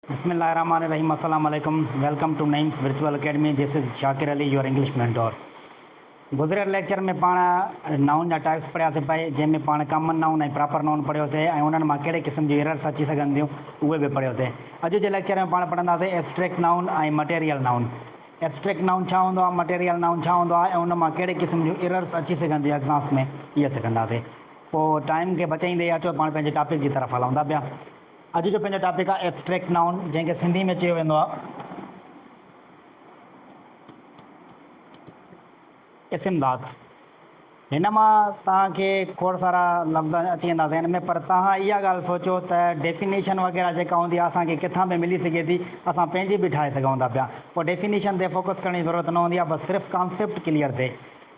بسم الله الرحمٰن الرحيم السلام عليڪم welcome to Naeem's virtual academy this is Shakir Ali your English mentor گذريل ليڪچر ۾ پاڻ نائون جا ٽائپس پڙهياسي پئي جنهن ۾ پاڻ ڪامن نائون ۽ پراپر نائون پڙهيوسي ۽ انهن مان ڪهڙي قسم جون ايررس اچي سگهن ٿيون اهي به پڙهيوسي اڄ جي ليڪچر ۾ پاڻ پڙهنداسي abstract noun ۽ material noun abstract noun ڇا هوندو آهي مٽيريل نائون ڇا هوندو آهي ۽ ان مان ڪهڙي قسم جون ايررس اچي سگهن ٿيون ايگزامس ۾ اهي سکنداسي پوء ٽائيم کي بچائيندي اچو پاڻ پنهنجي ٽاپڪ جي طرف هلون ٿا پيا اڄ جو پنهنجو ٽاپڪ آهي ايبسٽريڪٽ نائون جنهن کي سنڌي ۾ چيو ويندو آهي اسم ذات. هن مان توهان کي کوڙ سارا لفظ اچي ويندا ذهن ۾ پر توهان اها ڳالهه سوچو ته ڊيفينيشن وغيره جيڪا هوندي آهي اسان کي ڪٿان به ملي سگهي ٿي اسان پنهنجي به ٺاهي سگهون ٿا پيا پوء ڊيفينيشن تي فوڪس ڪرڻ جي ضرورت نه هوندي آهي بس صرف ڪانسيپٽ ڪليئر ٿئي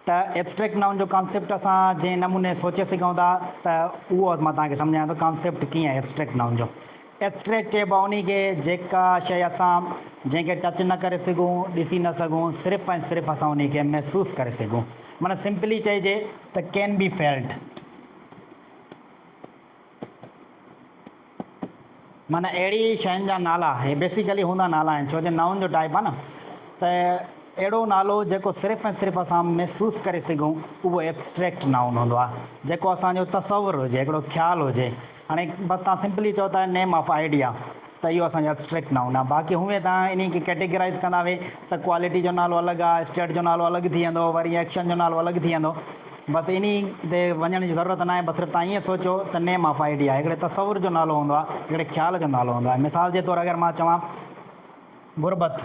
ته ائبسٽريڪٽ نائون جو ڪانسيپٽ اسان جنهن نموني سوچي سگهون ٿا ته اهو مان توهان کي سمجهايان ٿو ڪانسيپٽ ڪيئن آهي ائبسٽريڪٽ نائون جو. ائبسٽريڪٽ چئبو آهي انهي کي جيڪا شيء اسان جنهن کي ٽچ نه ڪري سگهون، ڏسي نه سگهون، صرف ۽ صرف اسان انهي کي محسوس ڪري سگهون. معنيٰ سمپلي چئجي ته ڪين بي فيلٽ. معنيٰ اهڙي شين جا نالا هي بيسيڪلي هوندا نالا آهن ڇو جو نائون جو ٽائپ آهي نه ته اهڙو نالو جيڪو صرف ۽ صرف اسان محسوس ڪري سگهون اهو ابسٽريڪٽ نائون هوندو آهي جيڪو اسان جو تصور هجي هڪڙو خيال هجي هاڻي بس تهان سمپلي چئو ته نيم آف آئيڊيا ته اهو اسان جو ابسٽريڪٽ نائون آهي باقي هونئن توهان انهي کي ڪيٽيگرائيز ڪندا به ته ڪوالٽي جو نالو الڳ آهي اسٽيٽ جو نالو الڳ ٿي ويندو وري ايڪشن جو نالو الڳ ٿي ويندو بس انهي تي وڃڻ جي ضرورت ناهي بس صرف توهان ائين سوچو ته نيم آف آئيڊيا هڪڙي تصور جو نالو هوندو آهي هڪڙي خيال جو نالو هوندو آهي مثال جي طور اگر مان چوان غربت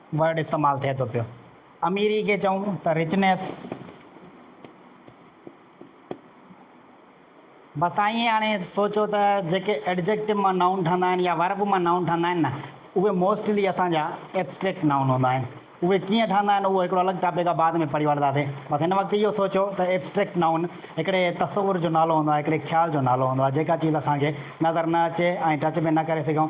ورڊ استعمال ٿئي ٿو پيو. اميري کي چئون ته رچنيس. بس تان ائين هاڻي سوچو ته جيڪي ايڊجيڪٽو مان نائون ٺهندا آهن يا ورب مان نائون ٺهندا آهن نه اهي موسٽلي اسان جا ايبسٽريڪٽ نائون هوندا آهن. اهي ڪيئن ٺهندا آهن اهو هڪڙو الڳ ٽاپڪ آهي بعد ۾ پڙهي وٺنداسين. بس هن وقت اهو سوچو ته ايبسٽريڪٽ نائون هڪڙي تصور جو نالو هوندو آهي، هڪڙي خيال جو نالو هوندو آهي، جيڪا چيز اسان کي نظر نه اچي ۽ ٽچ به نه ڪري سگهون،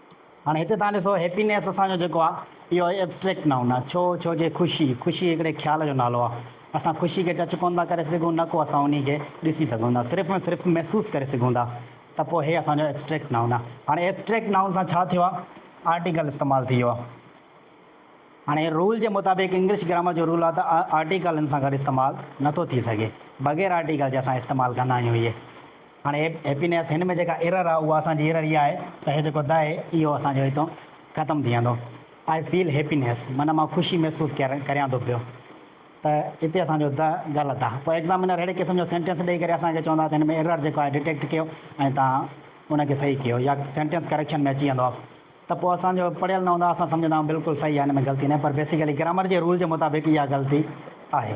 هاڻي هتي توهان ڏسو هيپينيس اسان جو جيڪو آ اهو آهي ابسٽريڪٽ نائون آ ڇو ڇو جي خوشي خوشي هڪڙي خيال جو نالو آ اسان خوشي کي ٽچ ڪونه ٿا ڪري سگهون نه ڪو اسان انهي کي ڏسي سگهون ٿا صرف ۽ صرف محسوس ڪري سگهون ٿا ته پوء هي اسان جو ابسٽريڪٽ نائون آ هاڻي ابسٽريڪٽ نائون سان ڇا ٿيو آ آرٽيڪل استعمال ٿي ويو آ هاڻي رول جي مطابق انگلش گرامر جو رول آ ته آرٽيڪل ان سان گڏ استعمال نه ٿو ٿي سگهي بغير آرٽيڪل جي اسان استعمال ڪندا آهيون اهي. هاڻي هيپينيس هن ۾ جيڪا ايرر آ اها اسان جي ايرر اها آهي ته هي جيڪو the اهو اسان جو هتان ختم ٿي ويندو I feel happiness معنيٰ مان خوشي محسوس ڪريان ٿو پيو ته هتي اسان جو the غلط آ پوء ايگزامينر ههڙي قسم جو سينٽينس ڏئي ڪري اسان کي چوندا ته هن ۾ ايرر جيڪو آهي ڊيٽيڪٽ ڪيو ۽ توهان ان کي صحيح ڪيو يا سينٽينس ڪريڪشن ۾ اچي ويندو ته پوء اسان جو پڙهيل نه هوندا اسان سمجهندا آهيون بلڪل صحيح آ هن ۾ غلطي ناهي پر بيسيڪلي گرامر جي رول جي مطابق اها غلطي آهي.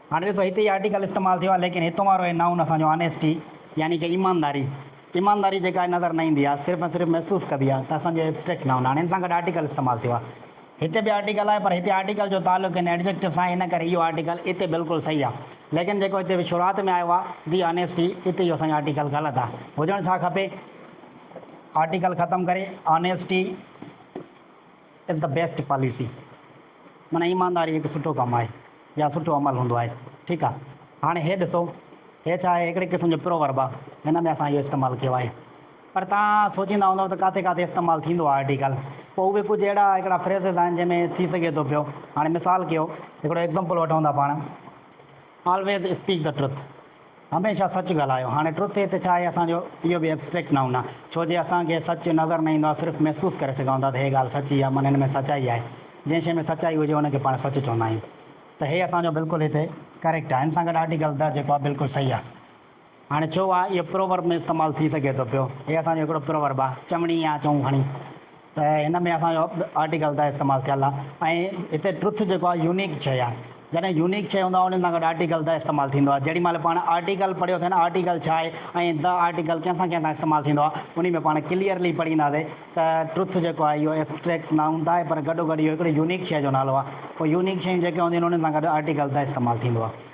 هاڻي ڏسو هتي هي آرٽيڪل استعمال ٿيو آهي ليڪن هتون وارو هي نائون اسان جو آنيسٽي يعني ڪي ايمانداري ايمانداري جيڪا آهي نظر نه ايندي آهي صرف ۽ صرف محسوس ڪبي آهي ته اسان جو ابسٽريڪٽ نائون هاڻي ان سان گڏ آرٽيڪل استعمال ٿيو آهي هتي به آرٽيڪل آهي پر هتي آرٽيڪل جو تعلق هن ايڊجيڪٽو سان آهي ان ڪري اهو آرٽيڪل اتي بلڪل صحيح آهي ليڪن جيڪو هتي شروعات ۾ آيو آهي دي آنيسٽي اتي اهو اسان جو آرٽيڪل غلط آهي هجڻ ڇا کپي آرٽيڪل ختم ڪري honesty is the best policy معنيٰ ايمانداري هڪ سٺو ڪم آهي يا سٺو عمل هوندو آهي ٺيڪ آ هاڻي هي ڏسو هي ڇا آهي هڪڙي قسم جو پروورب آ هن ۾ اسان اهو استعمال ڪيو آهي پر تان سوچيندا هوندؤ ته ڪاٿي ڪاٿي استعمال ٿيندو آ آرٽيڪل پو اهي ڪجهه اهڙا هڪڙا فريزز آهن جنهن ۾ ٿي سگهي ٿو پيو هاڻي مثال ڪيو هڪڙو ايگزامپل وٺون ٿا پاڻ آلويز اسپيڪ دي ٽروٿ هميشه سچ ڳالهايو. هاڻي ٽروٿ هي ته ڇا آهي اسان جو اهو به ابسٽريڪٽ نائون آهي. ڇو جي اسان کي سچ نظر نه ايندو آهي صرف محسوس ڪري سگهون ٿا ته هي ڳالهه سچي آهي من هن ۾ سچائي آهي. جنهن شيء ۾ سچائي هجي ان کي پاڻ سچ چوندا آهيون. ته هي اسان جو بلڪل هتي ڪريڪٽ آهي. هن سان گڏ آرٽيڪل The جيڪو آهي بلڪل صحيح آهي. هاڻي ڇو آهي اهو پروورب ۾ استعمال ٿي سگهي ٿو پيو. هي اسان جو هڪڙو پروورب آهي. چوڻي يا چئون کڻي. ته هن ۾ اسان جو آرٽيڪل ته استعمال ٿيل آهي ۽ هتي ٽروٿ جيڪو آهي يونيڪ شيء آهي جڏهن يونيڪ شيء هوندو آهي ان سان گڏ آرٽيڪل ته استعمال ٿيندو آهي جيڏي مهل پاڻ آرٽيڪل پڙهيوسين آرٽيڪل ڇا آهي ۽ ته آرٽيڪل ڪنهن سان ڪنهن سان استعمال ٿيندو آهي انهي ۾ پاڻ ڪليئرلي پڙهينداسين ته ٽروٿ جيڪو آهي اهو ابسٽريڪٽ نائون ته آهي پر گڏو گڏ اهو هڪڙي يونيڪ شيء جو نالو آهي پوء يونيڪ شيون جيڪي هونديون آهن انهن سان گڏ آرٽيڪل ته استعمال ٿيندو آهي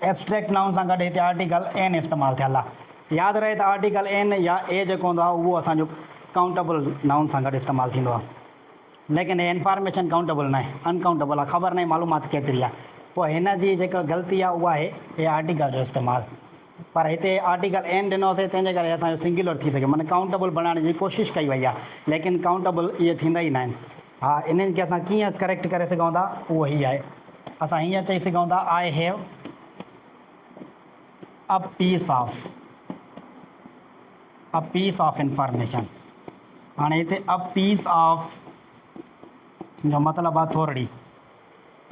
ايبسٽريڪٽ نائون سان گڏ هتي آرٽيڪل اين استعمال ٿيل آهي. ياد رهي ته آرٽيڪل اين يا اي جيڪو هوندو آهي اهو اسان جو ڪائونٽيبل نائون سان گڏ استعمال ٿيندو آهي. ليڪن هي انفارميشن ڪائونٽيبل ناهي، ان ڪائونٽيبل آهي، خبر ناهي معلومات ڪيتري آهي. پوء هن جي جيڪا غلطي آهي اها آهي هي آرٽيڪل جو استعمال. پر هتي آرٽيڪل اين ڏنو سي تنهن جي ڪري اسان جو سنگيولر ٿي سگهيو معنيٰ ڪائونٽيبل بڻائڻ جي ڪوشش ڪئي وئي آهي. ليڪن ڪائونٽيبل اهي ٿيندا ئي ناهن. ها انهن کي اسان ڪيئن ڪريڪٽ ڪري سگهون ٿا اهو هي آهي اسان هيئن چئي سگهون ٿا I have a piece of a piece of information هاڻي هتي ا پيس آف جو مطلب آهي ٿورڙي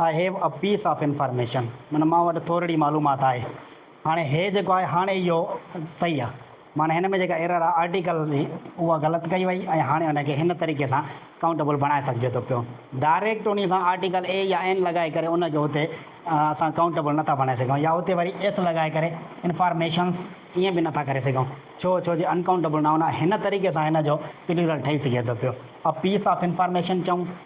I have a piece of information معنيٰ مان وٽ ٿورڙي معلومات آهي. هاڻي هي جيڪو آهي هاڻي اهو صحيح آهي. معنيٰ هن ۾ جيڪا ايرر آهي آرٽيڪل جي اها غلط ڪئي وئي ۽ هاڻي ان کي هن طريقي سان ڪائونٽيبل بڻائي سگهجي ٿو پيو. ڊائريڪٽ انهي سان آرٽيڪل اي يا اين لڳائي ڪري ان کي اتي اسان ڪائونٽيبل نٿا بڻائي سگهون يا اتي وري ايس لڳائي ڪري انفارميشنس ائين به نٿا ڪري سگهون. ڇو؟ ڇو جي انڪائونٽيبل نائون آهي. هن طريقي سان هن جو پليورل ٺهي سگهي ٿو پيو. اي پيس آف انفارميشن چئون.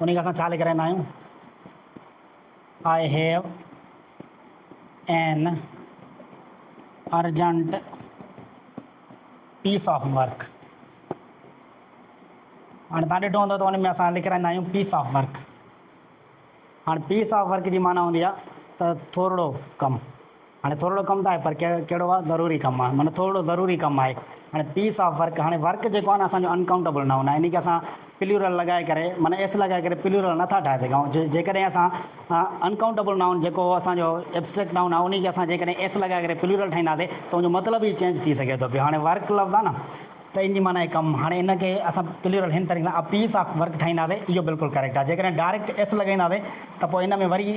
انهي کي اسان ڇا لکرائيندا آهيون؟ I have an urgent piece of work. هاڻي تان ڏٺو هوندو ته ان ۾ اسان لکرائيندا آهيون پيس آف ورڪ. هاڻي پيس آف ورڪ جي معنيٰ هوندي آهي ته ٿورڙو ڪم. هاڻي ٿورڙو ڪم ته آهي پر ڪهڙو آهي ضروري ڪم آهي معنيٰ ٿورڙو ضروري ڪم آهي هاڻي پيس آف ورڪ هاڻي ورڪ جيڪو آهي نه اسان جو انڪائونٽيبل نائون آهي يعني ڪي اسان پليورل لڳائي ڪري معنيٰ ايس لڳائي ڪري پليورل نه ٿا ٺاهي سگهون جيڪڏهن اسان انڪائونٽيبل نائون جيڪو اسان جو ابسٽريڪٽ نائون آهي انهي کي اسان جيڪڏهن ايس لڳائي ڪري پليورل ٺاهينداسي ته ان جو مطلب ئي چينج ٿي سگهي ٿو پيو هاڻي ورڪ لفظ آهي نه ته ان جي معنيٰ آهي ڪم هاڻي ان کي اسان پليورل هن طريقي سان ا پيس آف ورڪ ٺاهينداسي اهو بلڪل ڪريڪٽ آهي جيڪڏهن ڊائريڪٽ ايس لڳائينداسي ته پوء ان ۾ وري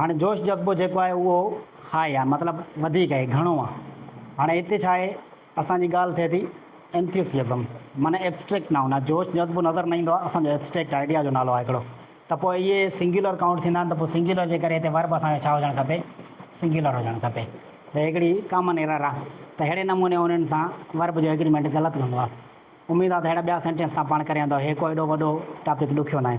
هاڻي جوش جذبو جيڪو آهي اهو هاء آهي مطلب وڌيڪ آهي گهڻو آهي هاڻي هتي ڇا آهي اسان جي ڳالهه ٿئي ٿي Enthusiasm معنيٰ Abstract Noun آهي جوش جذبو نظر نه ايندو آهي اسان جو Abstract Idea جو نالو آهي هڪڙو ته پوء اهي Singular Count ٿيندا آهن ته پوء Singular جي ڪري هتي Verb اسان جو ڇا هجڻ کپي Singular هجڻ کپي هي هڪڙي Common Error آهي ته اهڙي نموني انهن سان Verb جو Agreement غلط هوندو آهي اميد آهي ته اهڙا ٻيا Sentence توهان پاڻ ڪري ويندؤ هي ڪو ايڏو وڏو Topic ڏکيو ناهي.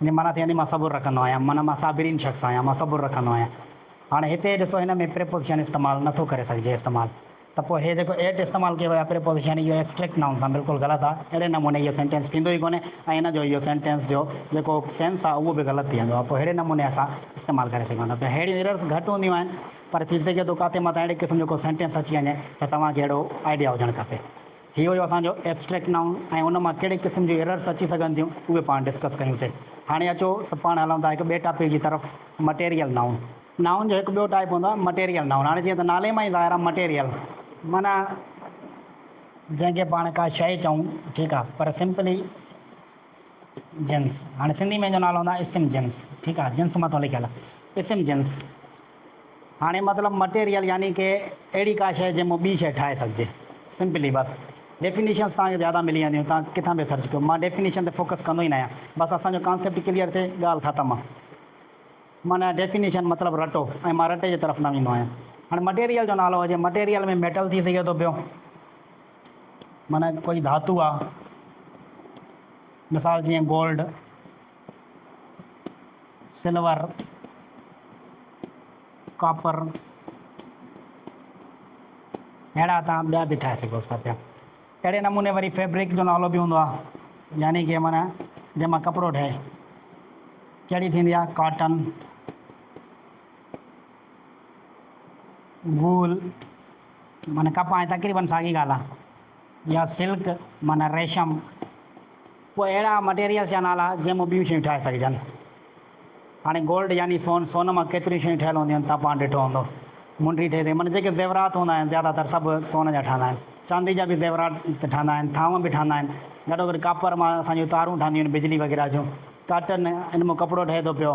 ان جي معنيٰ ٿي ويندي مان صبر رکندو آهيان معنيٰ مان صابرين شخص آهيان مان صبر رکندو آهيان هاڻي هتي ڏسو هن ۾ پريپوزيشن استعمال نٿو ڪري سگهجي استعمال ته پوء هي جيڪو ائٽ استعمال ڪيو ويو آهي پريپوزيشن اهو ايبسٽريڪٽ نائون سان بلڪل غلط آهي اهڙي نموني اهو سينٽينس ٿيندو ئي ڪونهي ۽ هن جو اهو سينٽينس جو جيڪو سينس آهي اهو به غلط ٿي ويندو آهي پوء اهڙي نموني اسان استعمال ڪري سگهون ٿا پيا اهڙيون ايررس گهٽ هونديون آهن پر ٿي سگهي ٿو ڪاٿي مٿان اهڙي قسم جو ڪو سينٽينس اچي وڃي ته توهان کي اهڙو آئيڊيا هجڻ کپي. هي هيو اسان جو ائبسٽريڪٽ نائون ۽ ان مان ڪهڙي قسم جون ايررس اچي سگهن ٿيون اهي پاڻ ڊسڪس ڪيون سي. هاڻي اچو ته پاڻ هلون ٿا هڪ ٻئي ٽاپڪ جي طرف مٽيريل نائون. نائون جو هڪ ٻيو ٽائپ هوندو آهي مٽيريل نائون هاڻي جيئن ته نالي مان ئي ظاهر آهي مٽيريل معنيٰ جنهن کي پاڻ ڪا شيء چئون ٺيڪ آهي پر سمپلي جنس هاڻي سنڌي ۾ ان جو نالو هوندو آهي اسم جنس ٺيڪ آهي جنس مٿو لکيل اسم جنس. هاڻي مطلب مٽيريل يعني ڪي اهڙي ڪا شيء جنهن مون ٻي شيء ٺاهي سگهجي. سمپلي بس. ڊيفينيشنز توهان کي زياده ملي وينديون توهان ڪٿان به سرچ ڪيو مان ڊيفينيشن تي فوڪس ڪندو ئي نه آهيان بس اسان جو ڪانسيپٽ ڪليئر ٿئي ڳالهه ختم. معنيٰ ڊيفينيشن مطلب رٽو ۽ مان رٽي جي طرف نه ويندو آهيان. هاڻي مٽيريل جو نالو هجي مٽيريل ۾ ميٽل ٿي سگهي ٿو پيو معنيٰ ڪوئي ڌاتو آهي مثال جيئن گولڊ. سلور، ڪاپر اهڙا تان ٻيا به ٺاهي سگهو ٿا پيا. اهڙي نموني وري فيبرڪ جو نالو به هوندو آهي يعني ڪي معنيٰ جنهن مان ڪپڙو ٺهي ڪهڙي ٿيندي آهي ڪاٽن وول معنيٰ ڪپاهه تقريبن ساڳي ڳالهه آهي. يا سلڪ معنيٰ ريشم، پوء اهڙا مٽيريلز جا نالا جنهن مان ٻيون شيون ٺاهي سگهجن. هاڻي گولڊ يعني سون، سون مان ڪيتريون شيون ٺهيل هونديون آهن، توهان پاڻ ڏٺو هوندو. منڊي ٺهي ٿي معنيٰ جيڪي زيورات هوندا آهن زياده تر سڀ سون جا ٺهندا آهن. چاندي جا به زيورات ٺهندا آهن، ٿانو به ٺهندا آهن. گڏو گڏ ڪاپر مان اسان جون تارون ٺهنديون آهن بجلي وغيره جون. ڪاٽن ان مان ڪپڙو ٺهي ٿو پيو.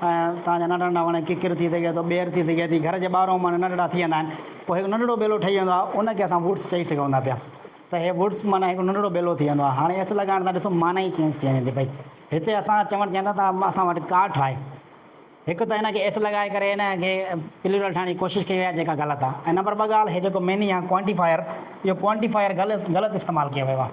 ۽ تان جا ننڍا ننڍا وڻ ڪڪر ٿي سگهي ٿو ٻير ٿي سگهي ٿي گهر جي ٻاهرون وڻ ننڍا ننڍا ٿي ويندا آهن پوء هڪ ننڍڙو ٻيلو ٺهي ويندو آهي ان کي اسان ووڊس چئي سگهون ٿا پيا ته هي ووڊس معنيٰ هڪ ننڍڙو ٻيلو ٿي ويندو آهي هاڻي ايس لڳائڻ سان ڏسو معنيٰ ئي چينج ٿي وڃي ٿي پئي هتي اسان چوڻ چاهيون ٿا ته اسان وٽ ڪاٺ آهي هڪ ته هن کي ايس لڳائي ڪري هن کي پليرل ٺاهڻ جي ڪوشش ڪئي وئي آهي جيڪا غلط آهي ۽ نمبر ٻه ڳالهه هي جيڪو ميني آهي ڪوانٽيفائر اهو ڪوانٽيفائر غلط غلط استعمال ڪيو ويو آهي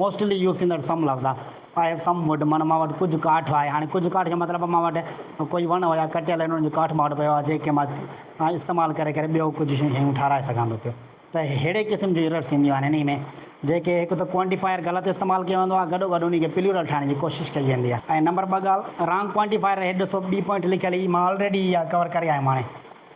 موسٽلي يوز ٿيندڙ سم لفظ آ. آء هيو سم ووڊ معنيٰ مان وٽ ڪجهه ڪاٺ آهي. هاڻي ڪجهه ڪاٺ جو مطلب مان وٽ ڪوئي وڻ هيا ڪٽيل هن انهن جو ڪاٺ مان وٽ پيو آهي جنهن کي مان استعمال ڪري ڪري ٻيو ڪجهه شيون ٺاهرائي سگهان ٿو پيو ته ههڙي قسم جون ايررس اينديون آهن انهي ۾ جيڪي هڪ ته ڪوانٽيفائر غلط استعمال ڪيو ويندو آهي گڏوگڏ انهي کي پليورل ٺاهڻ جي ڪوشش ڪئي ويندي آهي ۽ نمبر ٻه ڳالهه رانگ ڪوانٽيفائر هيٺ ڏسو ٻي پوائنٽ لکيل هي مان آلريڊي اها ڪور ڪري آيم هاڻي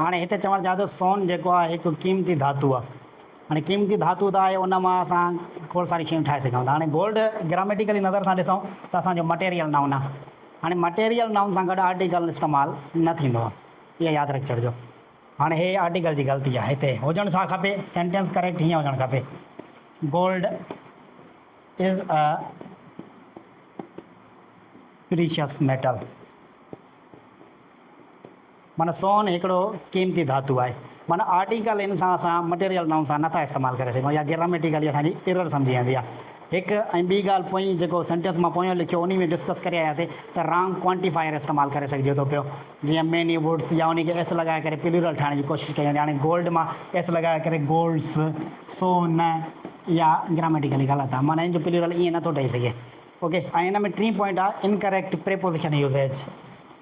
هاڻي هتي چوڻ چاهيان ٿو سون جيڪو آهي هڪ قيمتي ڌاتو آهي. هاڻي قيمتي ڌاتو ته آهي ان مان اسان کوڙ ساريون شيون ٺاهي سگهون ٿا. هاڻي گولڊ گراميٽيڪلي نظر سان ڏسون ته اسان جو مٽيريل نائون آهي. هاڻي مٽيريل نائون سان گڏ آرٽيڪل استعمال نه ٿيندو آهي. اها ياد رکي ڇڏجو. هاڻي هي آرٽيڪل جي غلطي آهي. هتي هجڻ ڇا کپي؟ سينٽينس ڪريڪٽ هيئن هجڻ کپي Gold is a precious metal. معنيٰ سون هڪڙو قيمتي ڌاتو آهي. معنيٰ آرٽيڪل ان سان اسان مٽيريل نائون سان نٿا استعمال ڪري سگهون يا گراميٽيڪلي اسان جي ايرر سمجهي ويندي آهي. هڪ ۽ ٻي ڳالهه پوئين جيڪو سينٽينس مان پويان لکيو انهي ۾ ڊسڪس ڪري آياسي ته رانگ ڪوانٽيفائر استعمال ڪري سگهجي ٿو پيو جيئن ميني ووڊس يا انهي کي ايس لڳائي ڪري پليورل ٺاهڻ جي ڪوشش ڪئي ويندي هاڻي گولڊ مان ايس لڳائي ڪري گولڊس سو نه اها گراميٽيڪلي غلط آهي معنيٰ ان جو پليورل ائين نٿو ٺهي سگهي اوڪي ۽ ان ۾ ٽين پوائنٽ آهي انڪريڪٽ پريپوزيشن يوزيج.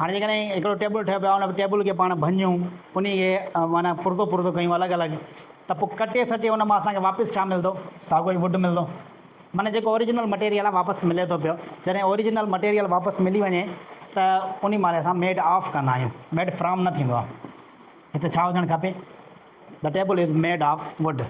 هاڻي جيڪڏهن هڪڙو ٽيبل ٺهيو پيو آهي ان ٽيبل کي پاڻ ڀڃون انهي کي معنيٰ پرزو پرزو ڪيون الڳ الڳ ته پوء ڪٽي سٽي ان مان اسان کي واپس ڇا ملندو ساڳو ئي ووڊ ملندو معنيٰ جيڪو اوريجنل مٽيريل آهي واپس ملي ٿو پيو جڏهن اوريجنل مٽيريل واپس ملي وڃي ته انهي مهل اسان ميڊ آف ڪندا آهيون ميڊ فرام نه ٿيندو آهي هتي ڇا هجڻ کپي ته table is made of wood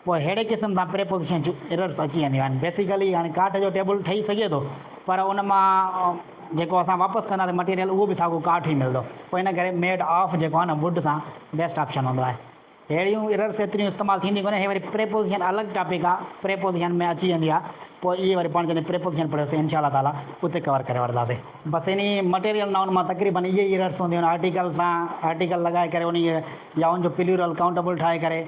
پوء ههڙي قسم سان پريپوزيشن جون ايررس اچي وينديون آهن. بيسيڪلي هاڻي ڪاٺ جو ٽيبل ٺهي سگهي ٿو پر ان مان جيڪو اسان واپس ڪنداسين مٽيريل اهو به ساڳيو ڪاٺ ئي ملندو. پوء ان ڪري ميڊ آف جيڪو آهي نه ووڊ سان بيسٽ آپشن هوندو آهي. ههڙيون ايررس ايتريون استعمال ٿينديون ڪونهن. هي وري پريپوزيشن الڳ ٽاپڪ آهي. پريپوزيشن ۾ اچي ويندي آهي. پوء اهي وري پاڻ جڏهن پريپوزيشن پڙهيوسين انشاء الله تعالٰي اتي ڪور ڪري وٺنداسين. بس انهي مٽيريل نائون مان تقريبن اهي ئي ايررس هونديون آهن. آرٽيڪل سان آرٽيڪل لڳائي ڪري انهي يا ان جو پليورل ڪائونٽبل ٺاهي ڪري.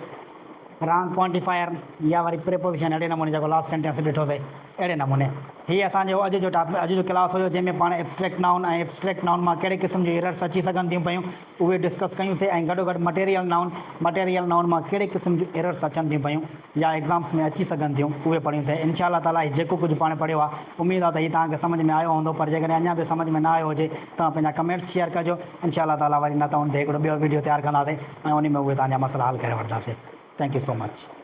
رانگ ڪوانٽيفائر يا وري پريپوزيشن اهڙي نموني جيڪو لاسٽ سينٽينس تي ڏٺو سي اهڙي نموني هي اسان جو اڄ جو ٽاپ اڄ جو ڪلاس هيو جنهن ۾ پاڻ ابسٽريڪٽ نائون ۽ ابسٽريڪٽ نائون مان ڪهڙي قسم جون ايررس اچي سگهن ٿيون پيون اهي ڊسڪس ڪيون سي ۽ گڏو گڏ مٽيريل نائون مٽيريل نائون مان ڪهڙي قسم جون ايررس اچن ٿيون پيون يا ايگزامس ۾ اچي سگهن ٿيون اهي پڙهيون سي انشاء الله تعالي هي جيڪو ڪجهه پاڻ پڙهيو آهي اميد آهي ته هي توهان کي سمجهه ۾ آيو هوندو پر جيڪڏهن اڃا به سمجهه ۾ نه آيو هجي ته پنهنجا ڪمينٽس شيئر ڪجو. انشاء الله تعاليٰ وري نه ته ان تي هڪڙو ٻيو ويڊيو تيار ڪنداسين ۽ انهي ۾ اهي توهان جا مسئلا حل ڪري وٺنداسين Thank you so much.